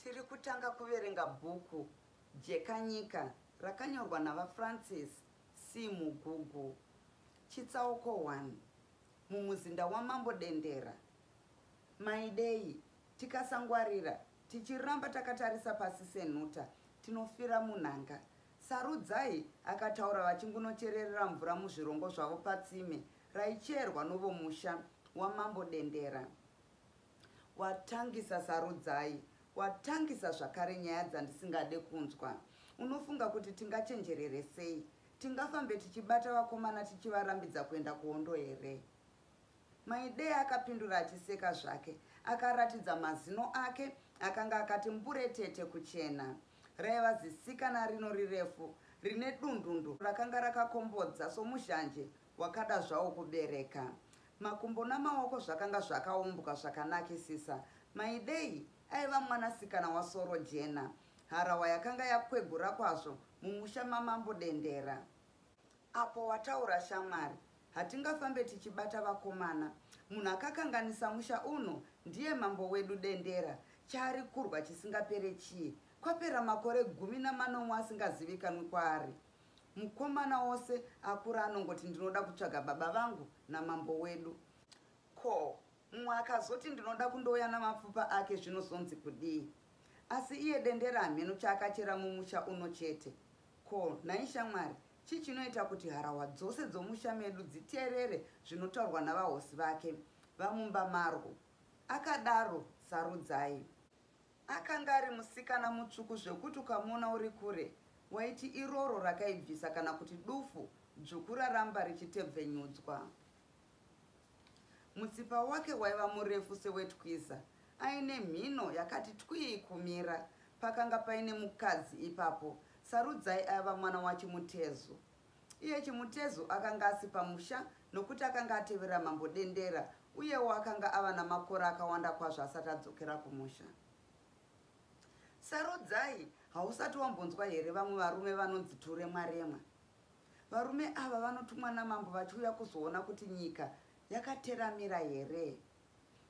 Tiri kutanga kuverenga bhuku Jekanyika rakanyorwa naVaFrancis C. Mugugu. Chitsauko 1, Mumuzinda waMambo Dendera. Maidei, tikasangwarira, tichiramba takatarisa pasi senhuta, tinofira munhanga. Sarudzai akataura vachingunochererera mvura muzvirongo zvavo patsime raicherwa novomusha waMambo Dendera. Watangisa Sarudzai, watangisa zvakare nyaya dzandisingade kunzwa. Unofunga kuti tingachenjerere sei? Tingafambe tichibata vakomana tichivarambidza kuenda kuhondo here? Maidei akapindura achiseka zvake. Akaratidza mazino ake akanga akati mburetete kuchena. Raiva zisikana rino rirefu rine dundundu rakanga rakakombodza somuzhanje Wakada zvawo kubereka. Makumbo namaoko zvakanga zvakaumbwa zvakanakisisa. Maidei aiva mwanasikana waSorojena. Harawa yakanga yakwegura kwazvo mumusha maMambo Dendera. Apo wataura shamwari. Hatingafambe tichibata vakomana. Munhu akakanganisa musha uno ndiye mambo wedu Dendera. Chaari kurwa chisingapere chii? Kwapera makore gumi namanomwe asingazivikanwi kwaari. Mukomana ose akura anongoti ndinoda kutsvaga baba vangu namambo wedu. Ko mumwe akazoti ndinoda kundouya namapfupa ake zvinozonzi kudii? Asi iye dendera hameno chaakachera mumusha uno chete. Ko nhai shamwari chii chinoita kuti harahwa dzose dzomusha medu dziteerere zvinotaurwa navahosi vake vamumba marwo? Akadaro Sarudzai. Akanga ari musikana mutsvuku zvekuti ukamuona uri kure waiti iroro rakaibvisa kana kuti dufu dzvuku raramba richitebvenyudzwa. Mutsipa wake waiva murefu sewetwiza aine mhino yakati twii kumira. Pakanga paine mukadzi ipapo, Sarudzai aiva mwana waChimutezu. Iye Chimutezu akanga asi pamusha nokuti akanga atevera Mambo Dendera uyewo akanga ava namakore akawanda kwazvo asati adzokera kumusha. Sarudzai, hausati wambonzwa here vamwe varume vanonzi turemwa remwa? Varume ava vanotumwa namambo vachiuya kuzoona kuti nyika yakateramira here.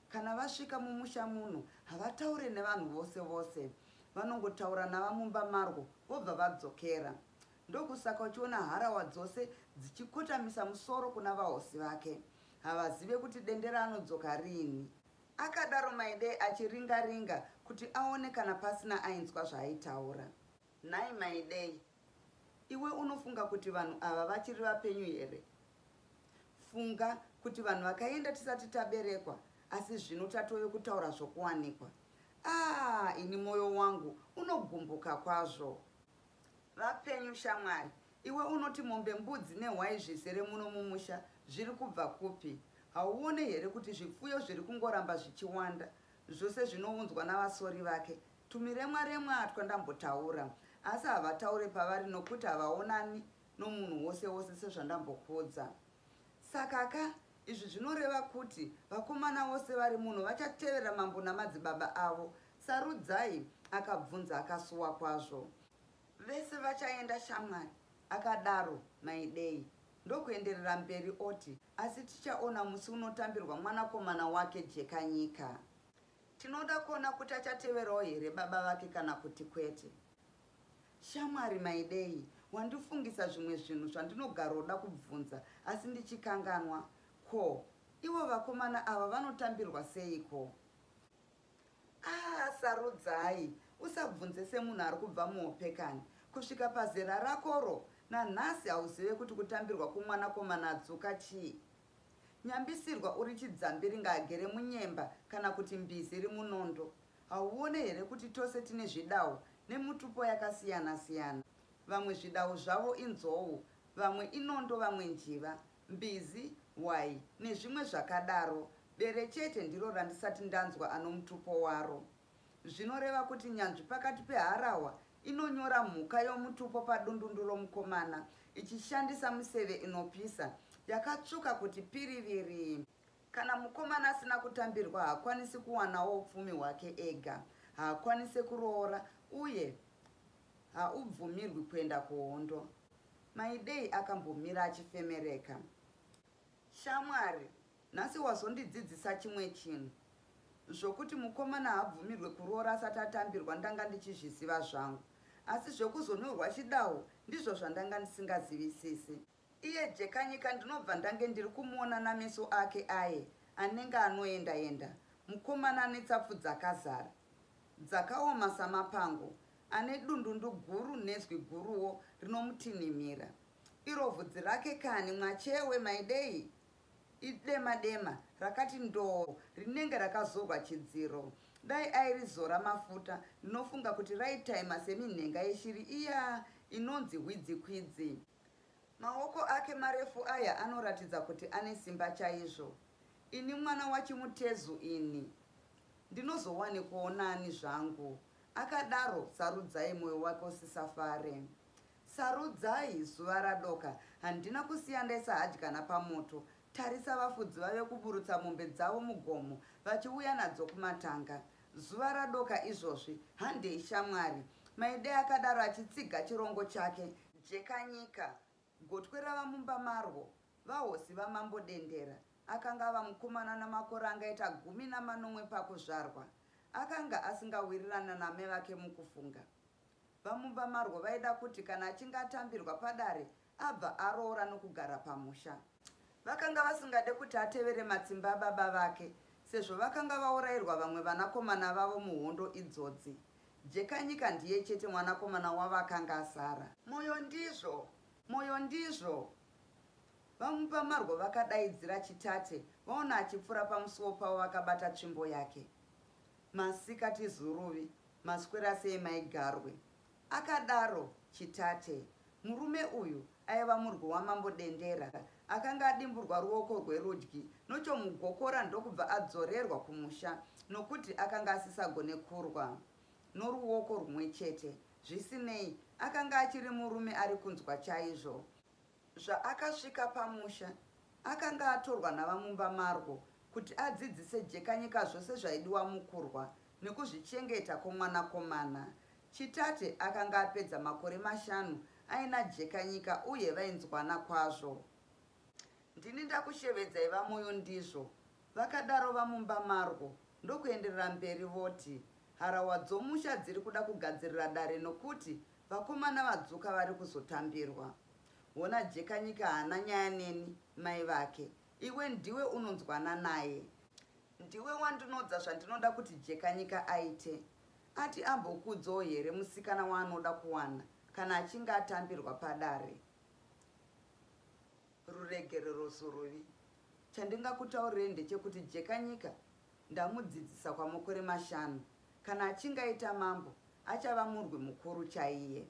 Kana vasvika mumusha muno havataure nevanhu vose vose, vanongotaura navamumba marwo vobva vadzokera. Ndokusaka uchiona harawa dzose dzichikotamisa musoro kuna vahosi vake. Havazive kuti Dendera anodzoka rini. Akadaro Maidei achiringa ringa kuti aone kana pasina ainzwa zvaaitaura. Nhai Maidei, iwe unofunga kuti vanhu ava vachiri vapenyu here? Funga kuti vanhu vakaenda tisati taberekwa asi zvino tatove kutaura zvokuwanikwa. Aah ini moyo wangu unogumbuka kwazvo. Vapenyu shamwari. Iwe unoti mombe mbudzi nehwai zvizere muno mumusha zviri kubva kupi? Hauone here kuti zvipfuyo zviri kungoramba zvichiwanda zvose zvinounzwa navasori vake? Tumiremwa remwa twandambotaura asi havataure pavari nokuti havaonani nomunhu wose wose sezvandambokuudza. Saka ka izvi zvinoreva kuti vakomana vose vari muno vachatevera mambo namadzibaba avo Sarudzai? akabvunza akasuwa kwazvo. Vese vachaenda shamwari, akadaro Maidei ndokuenderera mberi oti, asi tichaona musi unotambirwa mwanakomana wake Jekanyika. Tinoda kuona kuti achateverawo here baba vake kana kuti kwete. Shamwari Maidei, wandifungisa zvimwe zvinhu zvandinogaroda kubvunza asi ndichikanganwa. Ko, ivo vakomana ava vanotambirwa seiko? Ah, sarudzai usabvunze semunhu ari kubva muhope kani kusvika pazera rakoro nanhasi hauzive kuti kutambirwa kumwanakomana adzuka chii nyambisirwa uri chidzambi ringaagere munyemba kana kuti mbizi iri munondo hauone here kuti tose tine zvidawo nemutupo yakasiyana siyana vamwe zvidawo zvavo inzou vamwe inondo vamwe njiva mbizi, hwai nezvimwe zvakadaro. Bere chete ndiro randisati ndanzwa anomutupo waro. Zvinoreva kuti nyanzvi pakati peharahwa inonyora mhuka yomutupo padundundu romukomana ichishandisa miseve inopisa yakatsvuka kuti piriviri. Kana mukomana asina kutambirwa haakwanisi kuwanawo upfumi hwake ega, haakwanise kuroora uye haubvumirwi kuenda kuhondo. Maidei akambomira achifemereka. Shamwari, nhasi wazondidzidzisa chimwe chinhu. Zvokuti mukomana haabvumirwe kuroora asati atambirwa ndanga ndichizviziva zvangu. Asi zvekuzonyorwa chidawo ndizvo zvandanga ndisingazivisisi. Iye Jekanyika ndinobva ndange ndiri kumuona nameso ake aye anenge anoenda-enda, mukomana ane tsapfu dzakazara, dzakaoma samapango, Ane dundundu guru nezwi guruwo rinomutinhimira. Iro vhudzi rake kani mwachewe maidei? Idema dema rakati ndoo rinenge rakazorwa chidziro. Dai airizora mafuta ndinofunga kuti raitaima seminhenga yeshiri iya inonzi hwidzikwidzi. Maoko ake marefu aya anoratidza kuti ane simba chaizvo. Ini mwana wachimutezu ini. Ndinozowane kuonani zvangu. Akadaro Sarudzai moyo wake usisafare. Sarudzai zuva radoka handina kusiya ndaisa hadyana pamoto. Tarisa vafudzi vave kuburutsa mombe dzavo mugomo vachiuya nadzo kumatanga. Zuva radoka izvozvi handei shamwari. Maidei akadaro achitsiga chirongo chake. Jekanyika, gotwe rava mumba marwo, vahosi vaMambo Dendera, akanga ava mukomana ane makore angaita gumi namanomwe pakuzvarwa. Akanga asingawirirane naamai vake mukufunga. Vamumba marwo vaida kuti kana achinge atambirwa padare abva aroora nokugara pamusha. Vakanga vasingade kuti atevere matsimba ababa vake sezvo vakanga vaurairwa vamwe vanakomana vavo muhondo idzodzi. Jekanyika ndiye chete mwanakomana wavo akanga asara. Moyo ndizvo! Moyo ndizvo! VaMupamarwo vakadaidzira Chitate vaona achipfuura pamusuwo pavo vakabata tsvimbo yake. Masikati Zuruvi, maswera sei mai Garwe? Akadaro Chitate. Murume uyu aiva murwi wamambo Dendera akanga adimburwa ruoko rwerudyi nochomugokora ndokubva adzorerwa kumusha nokuti akanga asisagone kurwa noruoko rumwe chete. Zvisinei, akanga achiri murume ari kunzwa chaizvo. Zvaakasvika pamusha, akanga atorwa navamumba marwo kuti adzidzise Jekanyika zvose zvaidiwa mukurwa nekuzvichengeta kwomwanakomana. Chitate akanga apedza makore mashanu aina Jekanyika uye vainzwana kwazvo. Ndini ndakushevedzai vaMoyo ndizvo, vakadaro vamumba marwo ndokuenderera mberi voti, Harahwa dzomusha dziri kuda kugadzirira dare nokuti vakomana vadzuka vari kuzotambirwa. Hona Jekanyika haana nyaya neni mai vake. Iwe ndiwe unonzwana naye. Ndiwe wandinodza zvandinoda kuti Jekanyika aite. Ati ambokudzawo here musikana waanoda kuwana kana achinge atambirwa padare. Ruregerero soruvi. Chandingakutaurirei ndechekuti Jekanyika ndamudzidzisa kwamakore mashanu. Kana achinge aita mambo achava murwi mukuru chaiye.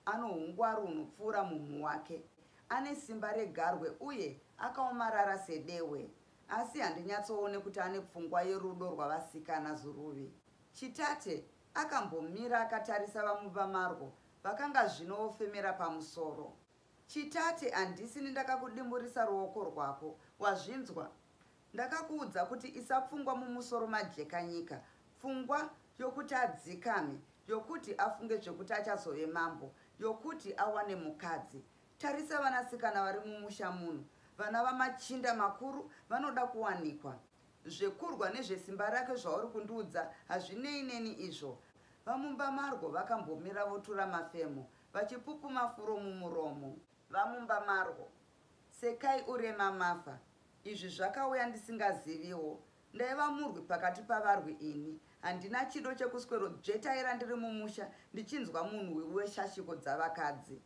Ano hungwaru hunopfuura mumhu wake. Ane simba regarwe uye akaomarara sedehwe. Asi handinyatsoone kuti ane pfungwa yerudo rwavasikana zuruvi. Chitate akambomira akatarisa VaMuvamarwo vakanga zvino vofemera pamusoro. Chitate handisini ndakakudimburisa ruoko rwako wazvinzwa ndakakuudza kuti isa pfungwa mumusoro majekanyika pfungwa yokuti adzikame yokuti afunge zvekuti achazove mambo yokuti awane mukadzi tarisa vanasikana vari mumusha muno vana vamachinda makuru vanoda kuwanikwa zvekurwa nezvesimba rake zvauri kundiudza hazvinei neni izvo vamumba marwo vakambomira votura mafemo Vachipupuma furo mumuromo. Vamumba marwo. Sekai urema mafa. Izvi zvakauya ndisingaziviwo. Ndaiva murwi pakati pavarwi ini. Handina chido chekuswero dzvetaira ndiri mumusha ndichinzwa munhwi weshashiko dzavakadzi.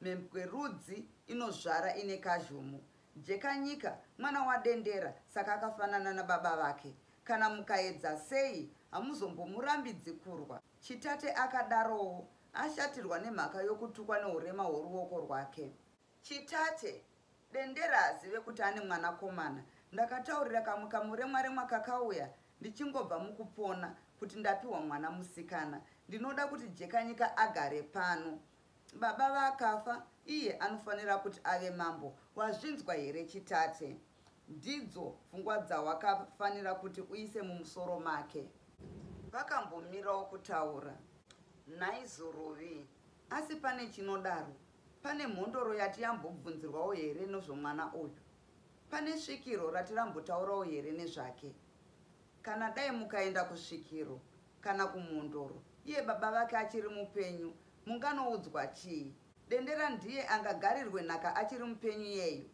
Mhembwe rudzi inozvara ine kazhumu. Jekanyika mwana waDendera saka akafanana nababa vake. Kana mukaedza sei hamuzombomurambidzi kurwa. Chitate akadarowo, ashatirwa nemhaka yokutukwa nourema hworuoko rwake. Chitate, Dendera haazive kuti ane mwanakomana. Ndakataurira kamwe kamuremwaremwa kakauya ndichingobva mukupona kuti ndapiwa mwana musikana. Ndinoda kuti Jekanyika agare pano. Baba vakafa iye anofanira kuti ave mambo wazvinzwa here chitate. Ndidzo pfungwa dzawakafanira kuti uise mumusoro make. Vakambomirawo kutaura. Nhai Zorovi asi pane chinodaro pane mhondoro yati yambobvunzirwawo here nozvomwana uyu. Pane svikiro rati rambotaurawo here nezvake. Kana dai mukaenda kusvikiro kana kumhondoro iye baba vake achiri mupenyu Munganoudzwa chii? Dendera ndiye angagarirwe nhaka achiri mupenyu iyeyu.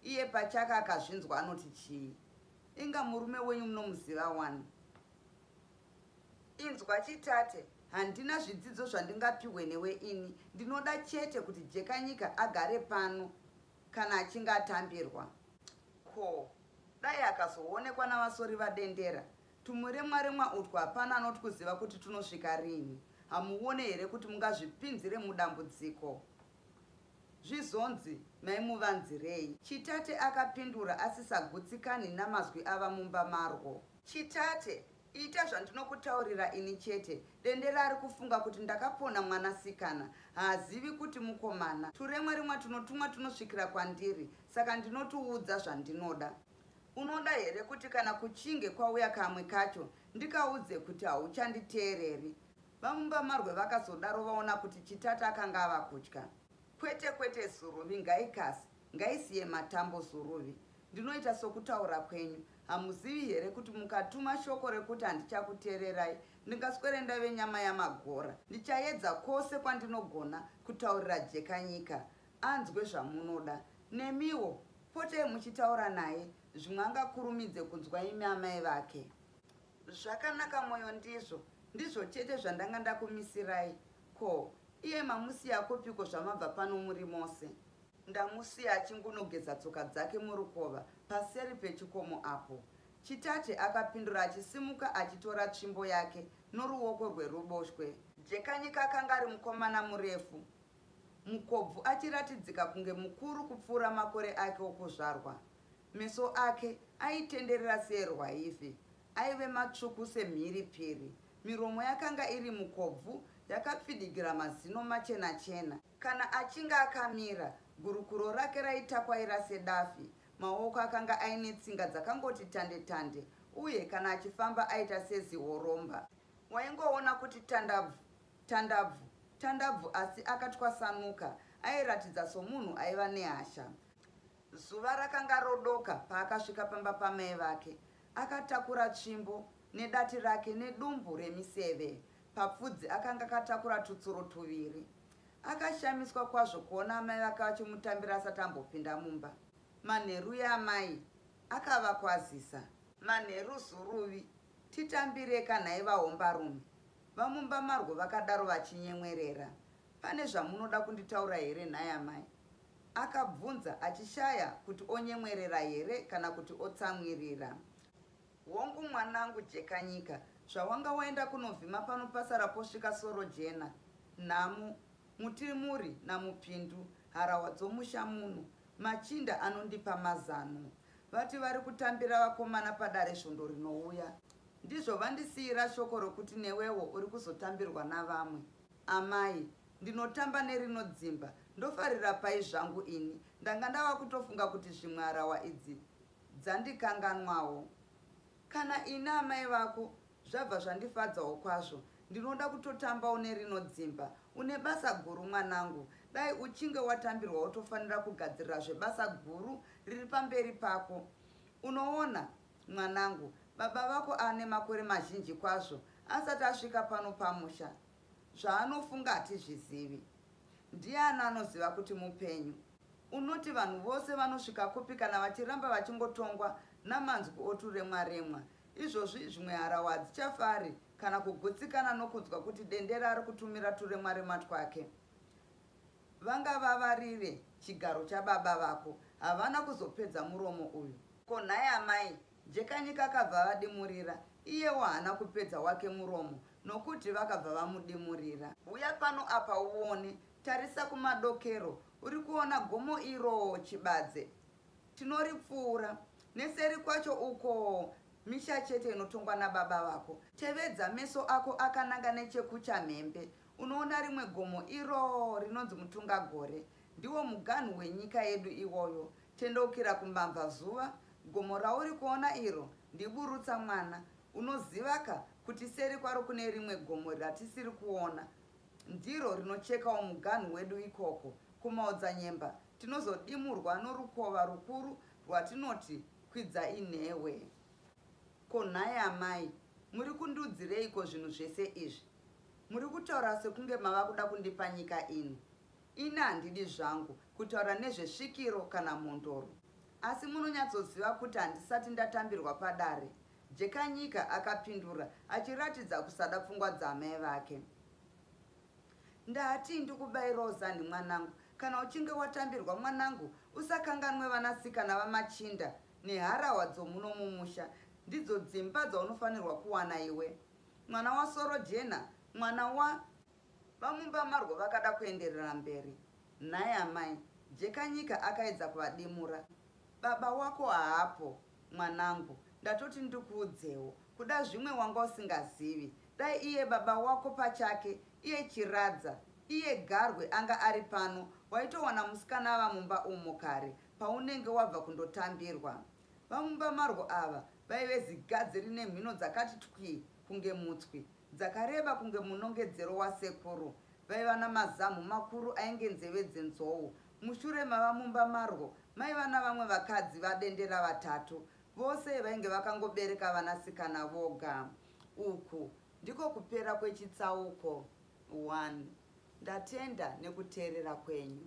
Iye pachake akazvinzwa anoti chii? Inga murume wenyu munomuziva wani? Inzwa chitate, handina zvidzidzo zvandingapihwe newe ini. Ndinoda chete kuti Jekanyika agare pano kana achinge atambirwa. Ko, dai akazoonekwa naVasori vaDendera Tumuremwa remwa utwu hapana anotwuziva kuti twunosvika rinhi. Hamuone here kuti mungazvipinzire mudambudziko? Zvizonzi, Maimuvanzirei? Chitate akapindura asisagutsikani namazwi ava mumba marwo. Chitate, ita zvandinokutaurira ini chete. Dendera ari kufunga kuti ndakapona mwanasikana. Haazivi kuti mukomana. Turemwa remwa twunotumwa twunosvikira kwandiri, saka ndinotwuudza zvandinoda. Unoda here kuti kana kuchinge kwauya kamwe kacho ndikaudze kuti hauchanditeereri? VaMumbamarwe vakazodaro vaona kuti Chitata akanga ava kutya. Kwete kwete Zuruvi ngaikase, ngaisiye matambo Zuruvi. Ndinoita sokutaura kwenyu. Hamuzivi here kuti mukatuma shoko rekuti handichakuteererai ndingaswere ndave nyama yamagora. Ndichaedza kwose kwandinogona kutaurira Jekanyika anzwe zvamunoda nemiwo potei muchitaura naye zvimwe angakurumidze kunzwa imi amai vake zvakanaka moyo ndizvo ndizvo chete zvandanga ndakumisirai ko iye mamusiya kupiko zvamabva pano muri mose ndamusiya achingunogeza tsoka dzake murukova paseri pechikomo apo chitate akapindura achisimuka achitora tsvimbo yake noruoko rweruboshwe jekanyika akanga ari mukomana murefu Mukobvu achiratidzika kunge mukuru kupfuura makore ake okuzvarwa. Meso ake aitenderera seerwaivhi. Aive matsvuku semhiripiri. Miromo yakanga iri mukobvu yakapfidigira mazino machena chena. Kana achinge akamira, gurukuro rake raitakwaira sedafi. Maoko akanga aine tsinga dzakangoti tande tande uye kana achifamba aita sezihoromba. Waingoona kuti tandabvu Tandabvu Tandabvu asi akatwasanuka airatidza somunhu aiva nehasha. Zuva rakanga rodoka paakasvika pamba pamai vake. Akatakura tsvimbo nedati rake nedumbu remiseve. Papfudzi akanga akatakura tutsuro tuviri. Akashamiswa kwazvo kuona amai vake vachimutambira asati ambopinda mumba. Manheru yamai akavakwazisa. Manheru Zuruvi, titambireka nhai vahombarume. VaMumbamarwo vakadaro vachinyemwerera. Pane zvamunoda kunditaura here nhai amai? Akabvunza achishaya kuti onyemwerera here kana kuti otsamwirira. Hongu mwanangu Jekanyika, zvawanga waenda kunovhima pano pasara posvika Sorojena, Nhamo, Mutirimuri naMupindu, harahwa dzomusha muno, machinda anondipa mazano. vati vari kutambira vakomana padare svondo rinouya ndizvo vandisiyira shoko rokuti newewo uri kuzotambirwa navamwe amai ndinotamba nerinodzimba ndofarira pai zvangu ini ndanga ndava kutofunga kuti zvimwe harawa idzi dzandikanganwawo Kana ini amai vako zvabva zvandifadzawo kwazvo ndinoda kutotamba une rino dzimba une basa guru mwanangu dai uchinge watambirwa wotofanira kugadzirira zvebasa guru riri pamberi pako unoona mwanangu baba vako ane makore mazhinji kwazvo asati asvika pano pamusha Zvaanofunga hatizvizivi. Ndiani anoziva kuti mupenyu? Unoti vanhu vose vanosvika kupi kana vachiramba vachingotongwa namanzwi oturemwa remwa? Izvozvi zvimwe harahwa hadzichafari kana kugutsikana nokunzwa kuti dendera ari kutumira turemwa remwa twake. Vangavavarire chigaro chababa vako, havana kuzopedza muromo uyu. Ko nhai amai, Jekanyika akabva avadimurira, iyewo haana kupedza wake muromo nokuti vakabva vamudimurira. Huya pano apa uone, tarisa kumadokero, uri kuona gomo iroo, Chibadze? Tinoripfuura. Neseri kwacho ukoo misha chete inotongwa nababa vako. Tevedza meso ako akananga nechekuchamhembe, unoona rimwe gomo iroo rinonzi Mutungagore. Ndiwo muganhu wenyika yedu iwoyo. Tendeukira kumamvazuva, gomo rauri kuona iro ndiBurutsa mwana. Unoziva ka, kuti seri kwaro kune rimwe gomo ratisiri kuona. Ndiro rinochekawo muganhu wedu ikoko. KuMaodzanyemba tinozodimurwa norukova rukuru rwatinoti Kwidzainhewe. Ko nhai amai, muri kundiudzireiko zvinhu zvese izvi? Muri kutaura sekunge mava kuda kundipa nyika ini. Ini handidi zvangu kutaura nezvesvikiro kana mhondoro asi munonyatsoziva kuti handisati ndatambirwa padare, Jekanyika akapindura achiratidza kusada pfungwa dzaamai vake. Ndatii ndikubairawo zanhi mwanangu, kana uchinge watambirwa mwanangu usakanganwe vanasikana vamachinda neharahwa dzomuno mumusha, ndidzo dzimba dzaunofanirwa kuwana iwe mwana waSorojena mwana wa VaMumba Marwo vakada kuenderera mberi, Nhai amai, Jekanyika akaedza kuvadimura, baba wako haapo mwanangu, ndatoti ndikuudzewo, kuda zvimwe wanga usingazivi, dai iye baba wako pachake, iye Chiradza, iye Garwe anga ari pano, waitowana musikana ava mumba umo kare paunenge wabva kundotambirwa. VaMumba Marwo ava vaive zigadzi rine mhino dzakati twii kunge mutswi, Dzakareba kunge munongedzero wasekuru. Vaiva namazamhu makuru ainge nzeve dzenzou. Mushure mava mumba marwo maiva navamwe vakadzi vadendera vatatu. Vose vainge vakangobereka vanasikana voga. Uku ndiko kupera kwechitsauko 1. Ndatenda nekuteerera kwenyu.